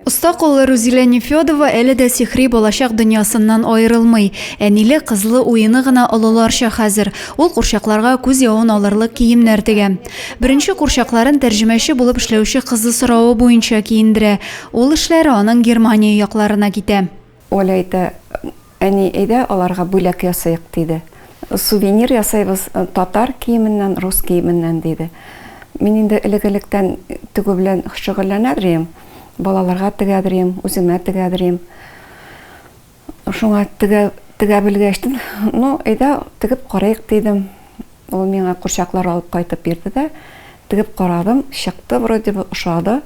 Оста куллы Рузилә Нефёдова әле дә сихри балачак дөньясыннан аерылмый. Әниле, кызлы уены гына олыларча хәзер. Ул курчакларга күз явын алырлык киемнәр тегә. Беренче курчакларын тәрҗемәче булып эшләүче кызы соравы буенча киендерә. Ул эшләре аның Германия якларына китә. Оля әйтә, Әни, әйдә, аларга бүләк ясыйк, диде. Сувенир ясыйбыз татар киеменнән, рус киеменнән, диде. Мин инде элек-электән тегү белән шөгыльләнәдер идем. Балаларга тегәдер идем, үземә тегәдер идем. Шуңа тегә белгәчтен, ну, әйдә, тегеп карыйк, дидем. Ул миңа курчаклар алып кайтып бирде дә, тегеп карадым, чыкты вроде бы, ошады.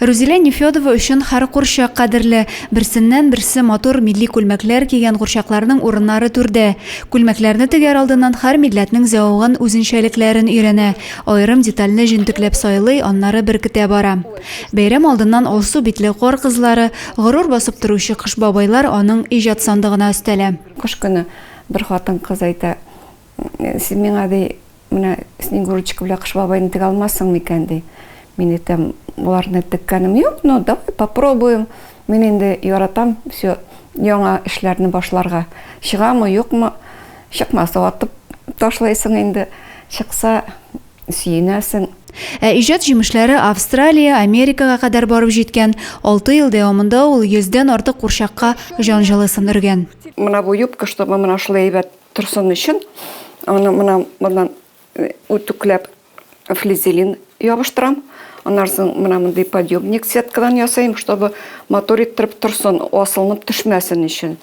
Рузилә Нефёдова өчен һәр курчак кадерле. Берсеннән-берсе матур милли күлмәкләр кигән курчакларның урыннары түрдә. Күлмәкләрне тегәр алдыннан һәр милләтнең зәвыгын, үзенчәлекләрен өйрәнә, аерым детальне җентекләп сайлый, аннары беркетә бара. Бәйрәм алдыннан алсу битле кар кызлары, горур басып торучы кыш бабайлар аның иҗат сандыгына өстәлә. Кыш көне бер хатын-кыз әйтә, Син миңа ди, менә Снегурочка белән Кыш бабайны тегә алмассың микән ди. Мин әйтәм, боларны теккәнем юк, но давай попробуем. Мин инде яратам все яңа эшләрне башларга. Чыгамы, юкмы? Чыкмаса атып ташлайсың инде. Чыкса сөенәсең. Ә иҗат җимешләре Австралия, Америкага кадәр барып җиткән. Алты ел дәвамында ул йөздән артык курчакка җан җылысын өргән. Менә бу юбка, чтобы менә шулай әйбәт Торсын өчен аны мына моннан э, үтүкләп флизелин ябыштырам. Аннан соң мына мондый подъемник сеткадан ясыйм, чтобы мотор иттереп торсын, асылынып төшмәсен өчен.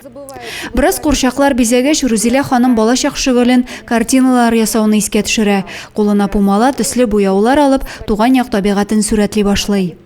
Бераз курчаклар бизәгәч, Рузилә ханым балачак шөгылен картиналар ясауны искә төшерә. Кулына пумала, төсле буяулар алып, туган як табигатен сүрәтли башлый.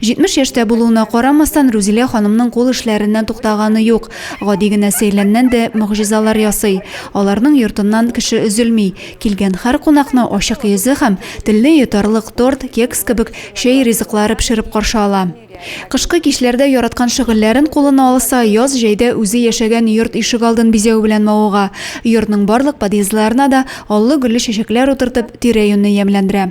70 яшьтә булуына карамастан, Рузилә ханымның кул эшләреннән туктаганы юк. Гади генә сәйләннән дә могҗизалар ясый. Аларның йортыннан кеше өзелми. Килгән һәр кунакны ачык йөзе һәм телне йотарлык торт, кекс кебек чәй ризыклары пешереп каршы ала. Кышкы кичләрдә яраткан шөгыльләрен кулына алса, яз-җәйдә үзе яшәгән йорт ишегалдын бизәү белән мавыга. Йортның барлык подъездларына да аллы-гөлле чәчәкләр утыртып, тирә-юньне ямьләндерә.